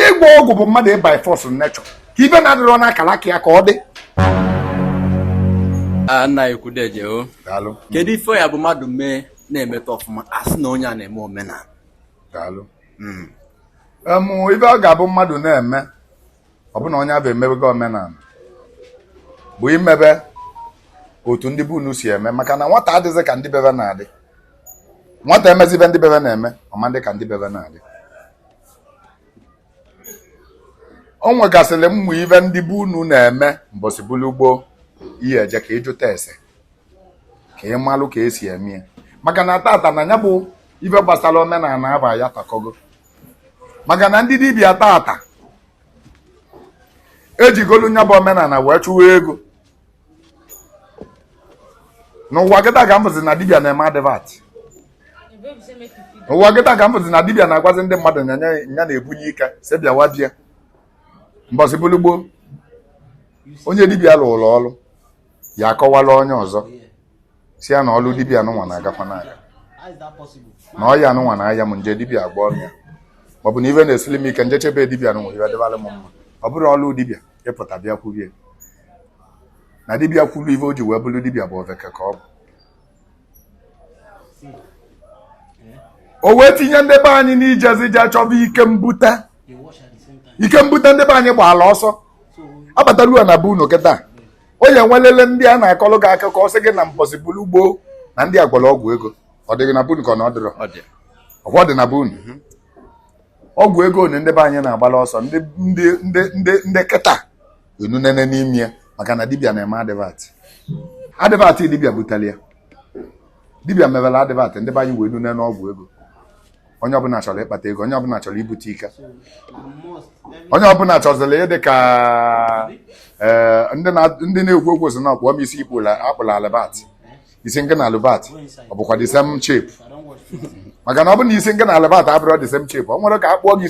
ịgwọ ọgwụ bụ mmadụ by force nature ka ive na-adịrọ n'akara aka ya ka ọ dị nna ekwudeje o kedu ife ya bụ mmadụ mee na-emeta ọfụma a sị na onye a na-eme omenala hmm. ive ọ ga-abụ mmadụ na-eme ọ bụ na onye avụ emebego omenala bụ imebe otu ndị be unu si eme maka na nwata adịghị ka ndị be ve na-adị nwata emezi ive ndị be ve na-eme ọ ma-adị ka ndị be ve na-adị o nwegasịrị ụmụ ive ndị be unu na-eme mbọsị bụlụ gboo ị ya-eje ka ị jụta ese ka ị malụ ka e si eme ya maka na tata na ya bụ ife gbasara omenala aba ya takọgo maka na ndị dibịa tata ejigolu nya bụ omenala wee chụwa ego n'ụwa kịta ka m vụzi na dibia na-eme advert n'ụwa kịta ka m vụzi na dibia na-agwazi ndị mmadụ na ya na-ebunye ike sị bịawa bịa mbọsị bụlụ gboo onye dibia lụrụ ọrụ ya akọwala onye ọzọ sị ya na ọlụ dibia nụnwa na-agakwa n'aka na ọya nụnwa na-aya m nje dibia agba ọrụ ya maọbụ na ife na-esili m ike m jeche be dibia nụnwa ive dịbara m mma ọ bụrọ ọlụ dibia ịpụta bịa kwube na dibịa kwuru ife o ji wee bụrụ dibịa bụ oveke ka ọ bụ o wee tinye ndị be anyị n'ijezi je chọba ike mbute ike mbute ndị be anyị gbaala ọsọ abatalua na be unu kịta onye nwelele ndị a na-akọlụ gị akụkọ ọ sị gị na mbọsị bụrụ gboo na ndị a gwọrọ ọgwụ ego ọ dịghị na be unu ka ọ na ọ dịrọ Ọ dị. ọgwụ dị na be unu ọgwụ ego nụ ndị be anyị na-agbala ọsọ ndị ndị ndị ndị ndị kịta enunene n'ime ya maka na dibịa na-eme advert advert dibịa butere ya dibịa mewere advert ndị be anyị wee nune n'ọgwụ ego onye ọbụla chọrọ ịkpata ego onye ọbụla chọrọ ibute ike onye ọbụla chọziri ịdị ka eh, ndị na- ndị na-ekwu okwu sị na ọ kpụọ m isi ikpụla a kpụlụ Albert isi nke ị na Albert ọ bụkwa the same shape maka na ọ bụ na isi nke ị na Albert abụrọ the same shape o nwerọ ka a kpụọ gị